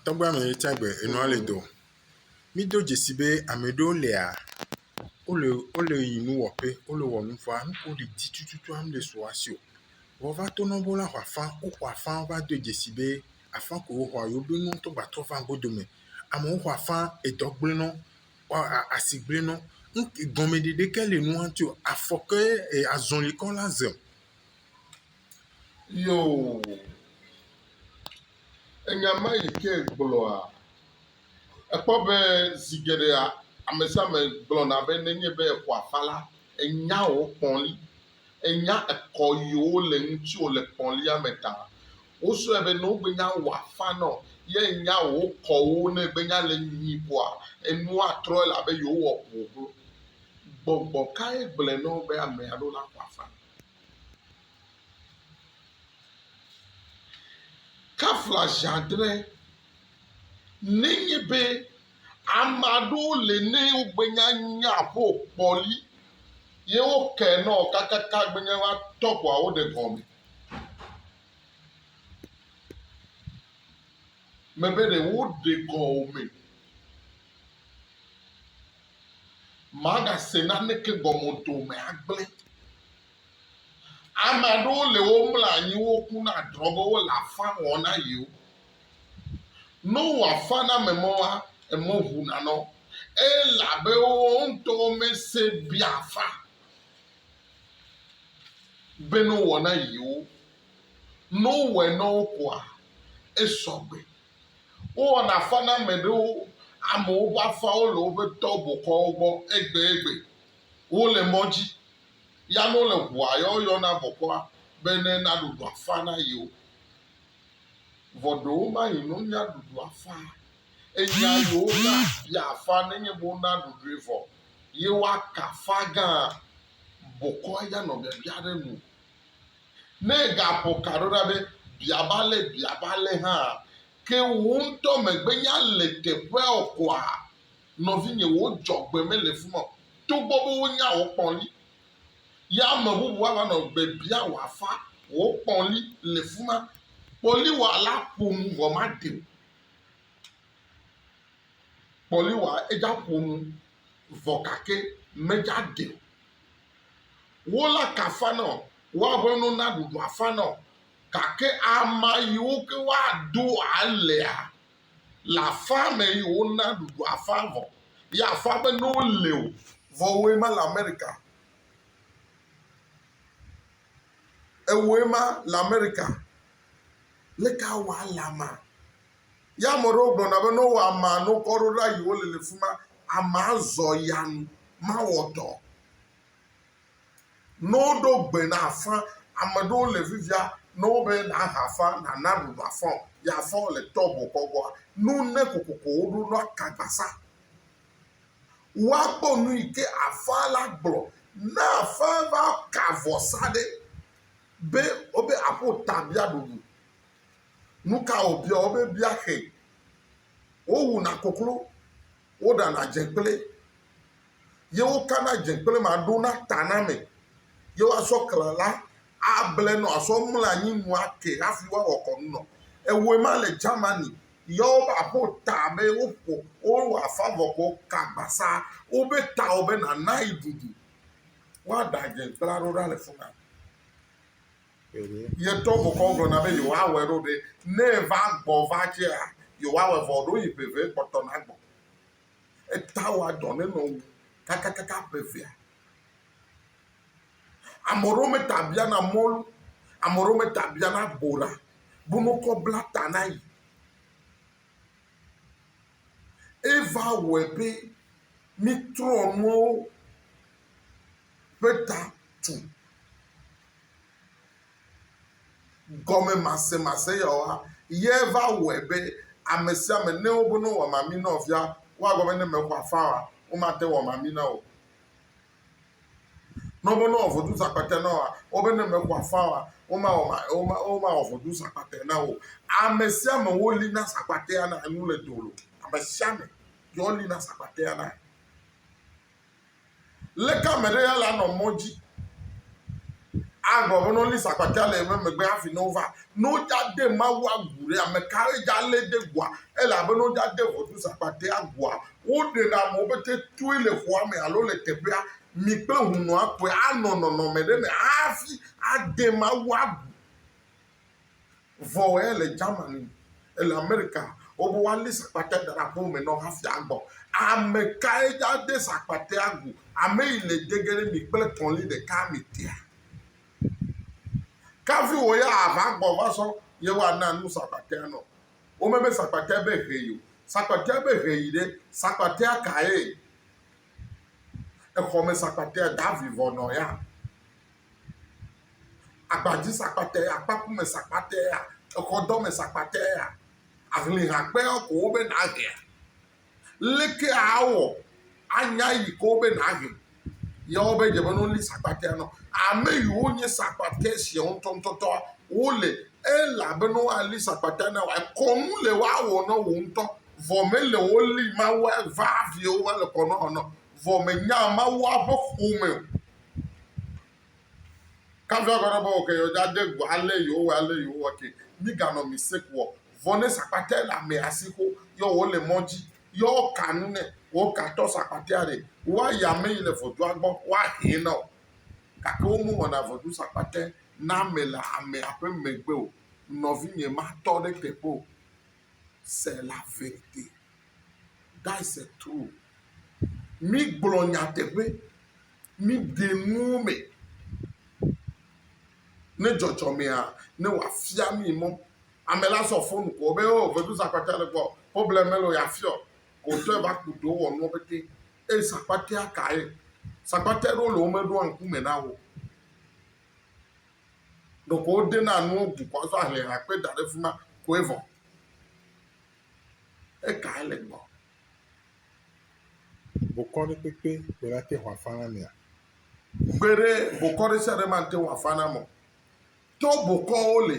Tɔgbe ame yi tsa gbe enua le do. Mi do dzesi be ame ɖewo lia wo le wo le yi nu wɔƒe. Wo le wɔ nu vɔa nu ko ɖi dzi tututu am le su as io. Vɔ va to nɔnwo la xɔa fa. Wo xɔa fa va do dzesi be afã ko wo xɔa yewo be nu tɔ gba trɔ va go dome. Amewo xɔa fa edɔ gble nɔ ɔ a asi gble nɔ. Nu gɔmeɖeɖe ke le nua ŋti o afɔke e azɔli kɔ la ze. Yoo, enya ma yi ke gblɔa, èkpɔ be zi geɖea ame sia ame gblɔna be nenye be eƒoa afa la, enya yewo kpɔli, enya ekɔ yewo le ŋutiwo le kpɔlia me ta. Wosrɔ̃e be ne wogbenye awɔ afa na wo ye enya yewo kɔwo ne egbenye le nyuie koa, enua atrɔ elabe yewowɔ ʋuʋu. Gbɔgbɔ kae gblɔe na wo be ame alo naƒo afa? Kafla zi adre, nenye be ame aɖewo li ne wogbenya nya aƒe o kpɔ li ye woke nɔ o kakaka gbenye be woatɔ ko awo ɖe gɔme. Mebe ɖe woɖe gɔme. Magase naneke gɔme o, dome agblẽ. Ame aɖewo le womlɔ anyi woku na drɔ be wole afã wɔm na yewo. Ne wowɔ afã na ame mɔa, eme ʋuna na wo elabe wowo ŋutɔwo mese be afã be ne wowɔ na yewo. Ne wowɔe na wo koa, esɔ gbe. Wowɔna afã na ame ɖewo, amewo ƒe afãwo le woƒe tɔ bɔkɔawo gbɔ egbegbe. Wole mɔ dzi ya ne wole ʋua ya woyɔna bɔkɔa be ne naɖu ɖu afã na yewo. Vɔ ɖewo mayi ne wonya ɖu ɖu afã enyia yewo na bia afã nenye be wona ɖu ɖui vɔ ye woaka afã gã bɔkɔa ya nɔ biabia ɖe nu. Ne ègaƒo ka ɖo ɖa be, Bia va ale, bia va ale hã, ke wò ŋutɔ mègbenya le teƒea o koa, nɔvinye, wò dzɔgbe mele fi ma o, togbɔ be wonya wò kpɔli. Ya ame bubu hã va nɔ gbe biam wò afã, wò kpɔli le fi ma. Kpɔliwɔa la ƒo nu vɔ maɖe o. Kpɔliwɔa edza ƒo nu vɔ gake medza ɖe o. Wo la kafan ɔ, woa ƒe nu na ɖuɖu afan ɔ, gake ama yiwo ke woa do alea le afa me yi wo na ɖuɖu afa vɔ. Yi afa be ne wo le o, vɔ woe ma le Amerika. Ewoe ma le Amerika. Leke awa le ama? Ye ame aɖewo gblɔna be ne wowɔ amea ne wokɔ ɖo ɖa yi wole le fi ma, amea azɔ ya nu mawɔ dɔ o. Ne woɖo gbe na afã, ame aɖewo le fifia ne wobe nàha afã, nàna ɖuɖu afã o, ye afã wole tɔb wokɔ gbɔa, nu ne kokoko woɖo na ka gbasa. Woakpɔ nu yi ke afã la gblɔ. Ne afã va ka vɔsa ɖe be wobe aƒo ta bia ɖuɖu, Nuka wòbia wo be bia xe? Wowuna koklo, woɖana dzekple, ye wokana dzekple ma ɖo na taname, ye woasɔ kle la able nɔ asɔ mlɔ anyi nu ake hafi woawɔ kɔnu nɔ. Ewoe ma le Germany yɔ wobe aƒewo ta be woƒo wowɔ afa vɔ ko ka gbasa wobe tawo be nana yi ɖuɖu. Woaɖa dzekplea ɖo ɖa le fima. Yetɔ mokɔ wogblɔna be yewoawɔe ɖo ɖe, ne eva gbɔ va tsea, yewoawɔe vɔ ɖo yi ƒe eve kpɔtɔ nagbɔ. Eta wɔa dɔ ne nɔ wu kakakaka ƒe evea. Ame ɖewo me ta biana mɔlu, ame ɖewo me ta biana bora be no kɔ bla ta na yi. Eva wɔe be mitrɔ nuɔwo. ƒe ta tu. Gɔmemasemase yawoa ye va wɔe be ame sia ame ne wobe ne wowɔ mami na nɔvia woagblɔ be ne mexɔ afã oa womate ŋu awɔ mami na wò o. Ne wobe ne wowɔ voduzãkpatɛ na wòa wobe ne mexɔ afã oa womawɔ womawɔ voduzãkpatɛ na wò o. Ame sia ame woli na zakpatɛa na enu le dowò. Ame sia ame ye woli na zakpatɛa na. Leke ame ɖe ya le anɔ mɔ dzi agblɔ be ne wolée sakpakia le eme megbe hafi ne wova? Ne wodzade Mawu agu ɖe, ame kae dzalée de gua? Elabena wodzade ʋɔtru sakpakia gua. Woɖena amewo pete toe le xɔa me alo le teƒea. Mi kple hunɔa koe anɔ nɔnɔme ɖe me hafi ade Mawu agu. Vɔ ele Germany, ele Amerika, wobe woali sakpate da ɖe aƒewo me na wò hafi agbɔ. Ame kae ade sakpatea go? Ame yi le de ge ɖe mi kple kɔli ɖeka me tea? Kafi wò ya ava gbɔ va sɔ yewoana nu sakpatea nɔ. Womebe sakpatea be he yi o. Sakpatea be he yi ɖe, sakpatea kae? Exɔme sakpatea, davivɔ nɔ ya. agbadzisakpatea, akpakumesakpatea, exɔdɔmesakpatea, ahlihakpeɔ ko wobe nàhea? Leke awɔ anya yi ke wobe nàhe? Ya wobe dze be ne woli sakpatea nɔ. Ame yiwo nye sakpate sia ŋutɔŋutɔtɔ wole elabena woali sakpatea na wòa. Kɔnu le woawɔ na wò ŋutɔ. Vɔ mele woli Mawu va hafi wova le kɔnua wɔna o. Vɔ mènya Mawua ƒe ƒome o. Kafi agba na bɔ ke yɔja de go ale yewo wɔ ale yewo wɔ ke mi ga nɔ mi sek wɔ vɔ ne sakpate la me asi xo yɔ wo le mɔ ji yɔ wo ka nu ne wo ka tɔ sakpate a ɖe wa ya me yi le vɔdua gbɔ wa he na o gake wo mo wɔ na vɔdu sakpate na me le ame a ƒe me gbe o nɔvi nye ma tɔ ɖe te ƒe o se la ve te da se tu mi gblɔ nya te ƒe Míde nuwo me ne dzɔdzɔmea ne wòafia mí mɔ. Ame la sɔ fonu ko be o vedu sakpakia le gbɔ problem mele o yeafiɔ ko wòtɔe va ku ɖewo wɔ nuwo pɛtɛ eye sakpakia ka ye. Sakpakia ɖewo le womeɖoa ŋku me na wo o. Ɖeko wodena nuwo bu ko azɔ ahlẽ ha kpe da ɖe fi ma koe vɔ. Ekae le gbɔ. Bokɔ ɖe kpekpe kpe la te hɔa fana mea? Gbeɖe, bokɔ ɖe sia ɖe mate ŋu afa na me o. To bokɔwo li.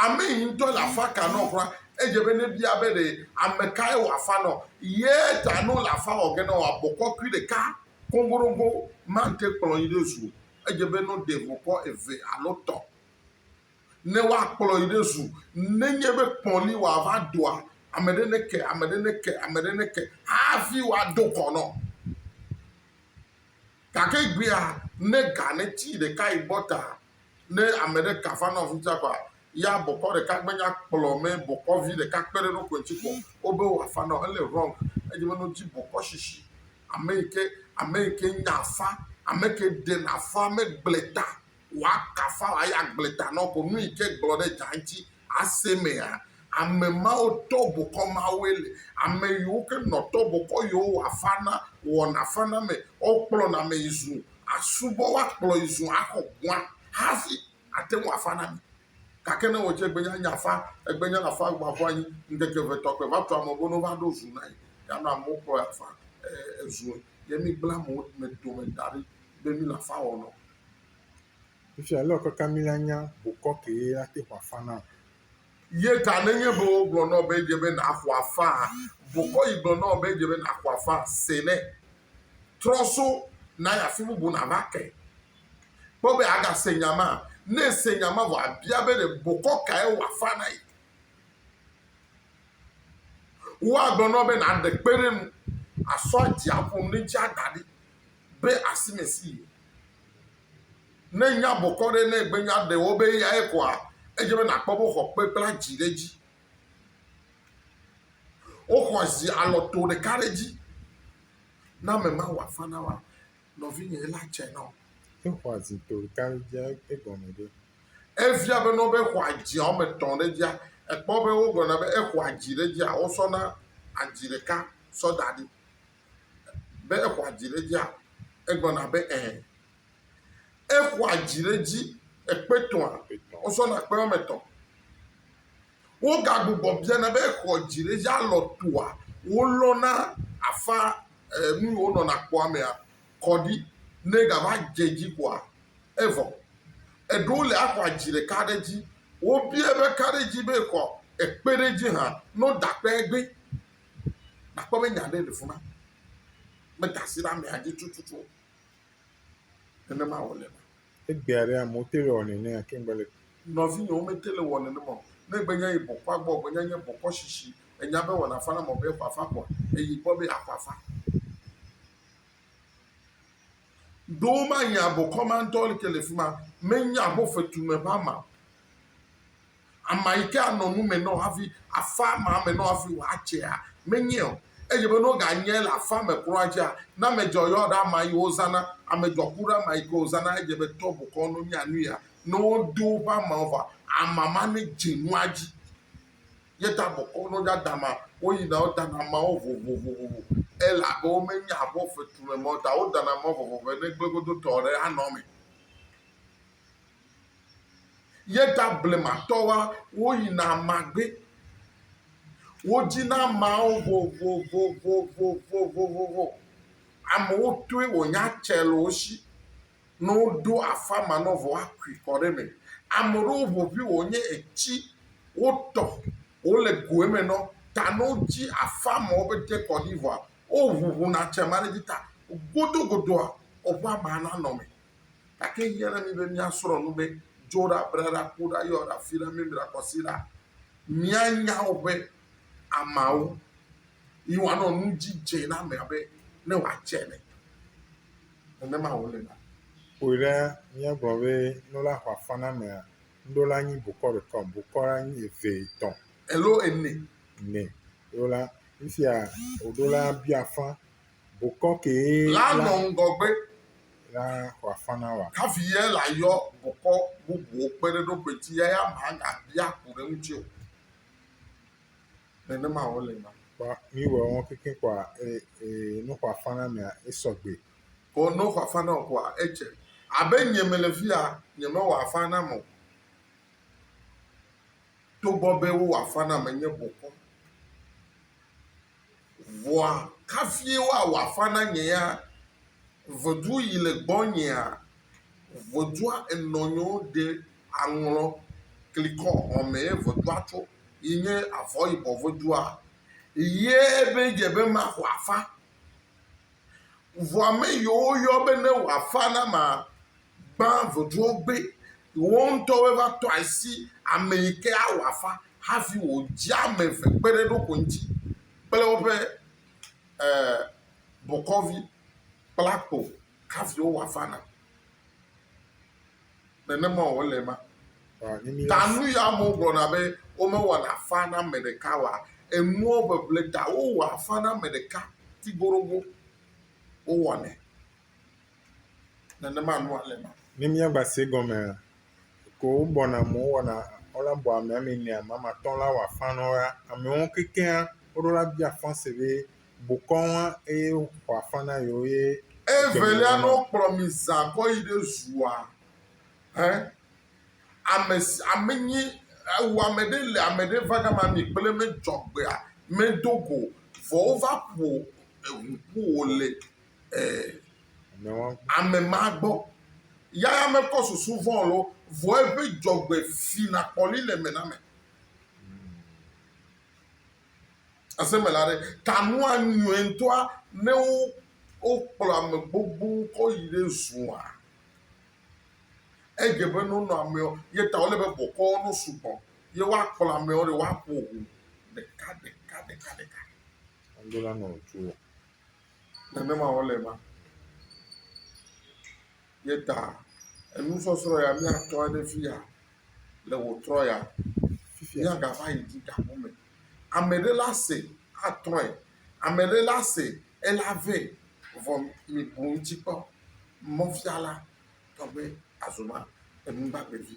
Ame yi ŋutɔ le afa ka nɔ kura, edze be nebia be ɖe ame kae wòafa nɔ. Ye ta ne wole afa wɔ ge na wòa, bokɔ kui ɖeka koŋgoɖoŋgo mate kplɔ yi ɖe zu o. Edze be ne woɖe bokɔ eve alo tɔ̃. ne woakplɔ yi ɖe zu. Nenye be kpɔ li wòava doa, ame ɖe neke, ame ɖe neke, ame ɖe neke hafi woado kɔ nɔ. Gake egbea, ne ga neti ɖeka yi gbɔ ta, ne ame ɖe ka va nɔ afi sia kɔa, ya bɔkɔ ɖeka gbenya kplɔ mɛ bɔkɔvi ɖeka kpe ɖe eɖokui ŋuti kpɔ o be wòafa nɔ. Ele wrong. Edze be ne wodi bɔkɔshishi, ame yi ke, ame yi ke nya afa, ame ke ɖena afa megblẽ ta woakafa ya gblẽ ta nɔ ko nu yike gblɔ ɖe dza ŋti ase mea? Ame mawo tɔ bokɔ mawoe le ame yiwo ke nɔ tɔ bokɔ yewo wa fana wɔna fana me. Wo kplɔ na me yi zu asubɔ wa kplɔ yi zu axɔ gua hafi ate ŋu afa na mi. Gake ne wo dze egbe nya nya fa egbe nya na fa gba ƒu anyi ŋkeke ve tɔ kpe va tu ame bo no va ɖo zu na yi ya nɔ amewo kplɔ ya fa e e zue ye mi gble amewo me dome daɖi be mi la fa wɔnɔ Efia lé wòkaka mí la nya bokɔ kee ate ŋu afa nam. Ye ta nenye be wogblɔ na wò be edze be nàxɔ afaa, bokɔ yi gblɔ na wò be edze be nàxɔ afaa. Se nɛ. Trɔ so na yi afi bubu nàva ke. Kpɔ be agase nya ma. Ne ese nya ma vɔ abia be ɖe bokɔ kae wòafa na yi. Woagblɔ na wò be nàɖe kpe ɖe enu, asɔ aɖia ƒo nu ne ŋuti ada ɖi. be asi me si ye. Ne nya bɔkɔ ɖe ne gbe nya ɖe wɔ be eyae koa, edze be nàkpɔ be woxɔ kpe kple adzi ɖe edzi. Woxɔ zi alɔto ɖeka ɖe edzi. Na ame ma wòafa na wòa nɔvinye la tsɛ na wò. Exɔ azi to ɖeka ɖe edzia, egɔme ɖe? Efia be ne wobe xɔ adzia woame etɔ̃ ɖe edzia, èkpɔ be wogblɔna be exɔ adzi ɖe edzia, wosɔna adzi ɖeka sɔ da ɖi. be exɔa dzi ɖe edzia? Egblɔna be ẽ. Exɔa dzi ɖe edzi ekpe etɔ̃a? Wozɔna kpe woame etɔ̃. Wogagbugbɔ biana be exɔ dzi ɖe edzi alɔ toa? Wolɔna afã enu yi wonɔna kpɔa mea kɔ ɖi. Ne egava dze edzi koa, evɔ. Eɖewo le axɔa dzi ɖeka ɖe edzi. Wobiae be ka ɖe edzi be exɔ ekpe ɖe edzi hã. Ne woda kpea egbee. Nakpɔ be nya aɖe le fi ma. Meda asi ɖe amea dzi tututu o. Nenema wòle eme. Egbea ɖe amewo te le wɔ nene gake mele kpɔm. Nɔvinye, womete le wɔ nenem o. Ne ègbe nya yi bɔkɔa gbɔ o, ègbe nya nye bɔkɔ shishi. Ènya be wɔna fana me be ƒaƒã gbɔ. Èyi gbɔ be aƒaƒã. Ɖo womanya bɔkɔ ma ŋutɔ ke le fi ma. Menya be wofetume ƒe ama o. Ama yi ke anɔ nu me nɔ hafi afa ma me nɔ hafi wòatsea? Menye o. Edze be ne woganye le afa me kura dzia, ne amedzɔ yɔ ɖe ama yi wozãna, amedzɔ ku ɖe ama yi ke wozãna, edze be tɔ bokɔ no nya nu ya. Ne wodo woƒe amawo vɔa, ama ma nedze nua dzi. Ye ta bokɔ no dza dama, woyina wodana amawo vovovovovo. Elabe womenya abɔ fetu me mɔ ta wodana amawo vovovo be ne gbegodotɔ ɖe anɔ eme. Ye ta blematɔwoa, woyina ama gbé. Wodzina amawo vovovovovovovovovo. Amewo toe wònya tsɛ le wo shi. Ne woɖo afa ma nɔ vɔ woakui kɔ ɖe eme. Ame ɖewo ʋeʋĩ wònye etsi wotɔ wole go eme nɔ ta ne wodzi afa ma wobe te kɔ ɖi vɔa, woŋuŋuna tsɛ ma ɖe dzi ta godogodoa, woƒe ama nanɔ me. Gake ehiã na mí be míasrɔ̃ nu be, Dzo ɖa, ble ɖa, ku ɖa, yɔ ɖa, fi ɖa, mimli ɖa, kɔ asi ɖa. Míanya woƒe ameawo yi woanɔ nu dzi dze na amea be ne wòatse ene. Nenema wòle na. Kpɔe ɖa, míagblɔ be nu la xɔ afɔ na amea, nuɖo la nyi bokɔ ɖeka o, bokɔ la nyi eve, etɔ̃. Alo ene. Ene. Ɖo la, nu sia wòɖo la bia afã Bokɔ kee la nɔ ŋgɔgbe. La wòafana wa. Hafi ye la yɔ bokɔ bubuwo kpe ɖe eɖokui ŋuti eya ma agabia ku ɖe eŋuti o. Nenema wòle na. Kpɔ mi wɔ wɔn keke kɔa ee ee nu wòafana mea esɔ gbe. Ko ne wòafana o koa edze abe nye mele fi ya nye me wòafa nam o. Togbɔ be wowɔ afa nam enye bokɔ. Vɔa kafie woawɔ afa na nye ya? Ʋedu yi le gbɔnyea? Ʋedua enɔ nyewo ɖe aŋlɔ klikɔ hɔme ye ʋedua tso yi nye avɔ yibɔ ʋedua. Ye be dze be maxɔ afa. Vɔa me yiwo yɔ be ne wɔ afa na ma gbã vodua wo be yewo ŋutɔwoe va tɔ asi ame yi ke awɔ afa hafi wòdze ame eve kpe ɖe eɖokui ŋuti kple woƒe e, bokɔvi kple akpo hafi wowɔ afa na. Nenema wòle ema. Ta nu ya amewo gblɔna be womewɔna afa na ame ɖeka wa, enuɔ ʋeʋle ta wowɔ afa na ame ɖeka ti goɖogo. Wowɔnɛ. nenema alo alema. Ni mía gba se gɔme ko wo bɔ na mo wɔ na o la bɔ amea mi nea ma ma tɔn la wa fan nɔ ya. Ame wo kekea wo ɖo la bia fan se be bokɔ wa eye wa fan na yo ye. E velia nɔ kplɔ mi za kɔ yi ɖe zua he ame si ame nyi ewu ame ɖe le ame ɖe va gama mi kple me jɔgbea me dogo vɔ wo va ƒo eŋu ƒo wo le. Ɛɛ, ame ma gbɔ. Ya ya mekɔ susu vɔ̃ lo, vɔ eƒe dzɔgbe fina kpɔli le eme na ame. Asemela ɖe, ta nua nyrɔe ŋutɔa ne wokplɔ ame gbogbo kɔ yi ɖe zua. Edze be ne wonɔ amewo ye ta wole be bɔkɔwo no sugbɔ ye woakplɔ amewo ɖe woaƒo ŋu ɖeka ɖeka ɖeka ɖeka. Alo la nɔ tu. nenema wòle ema. Ye ta enusɔsrɔ̃ ya míatɔ ɖe fi ya le wòtrɔ ya míagava yi dzi gaƒo me. Ame ɖe la se atrɔe, ame ɖe la se ela vɛ vɔ mibu ŋuti kpɔ. Mɔfiala tɔ be azɔma enu gbagbe vi.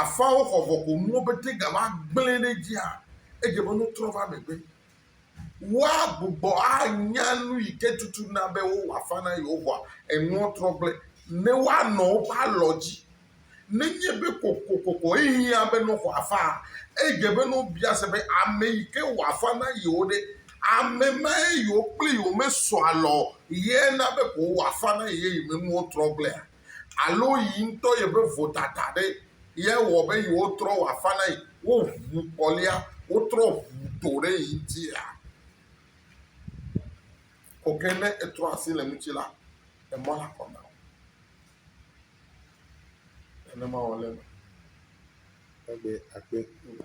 Afɔawo xɔ vɔkonuwo be te gava gblẽ ɖe edzia, edze be nutrɔ va megbe. Woagbugbɔ anya nu yi ke tutu na be wowɔ afã na yewo vɔa, enuɔ trɔ gblẽ ne woanɔ woƒe alɔ dzi. Nenye be kokokoko ehiã be ne woxɔ afãa, edze be ne wobia se be ame yi ke wɔ afã na yewo ɖe, ame mae yewo kple yewo mesɔ alɔ o, ye na be ko wowɔ afã na ye yi me nuwo trɔ gblẽa? alo yi ŋutɔ yeƒe vodada ɖe ye wɔ be yewotrɔ wɔ afã na yi, woʋu kɔlia, wotrɔ ʋu to ɖe yi ŋutia? Ko ke ne etrɔ asi le eŋuti la, emɔ le akɔ na wò. Nenema wòle eme kpegbe kpegbe.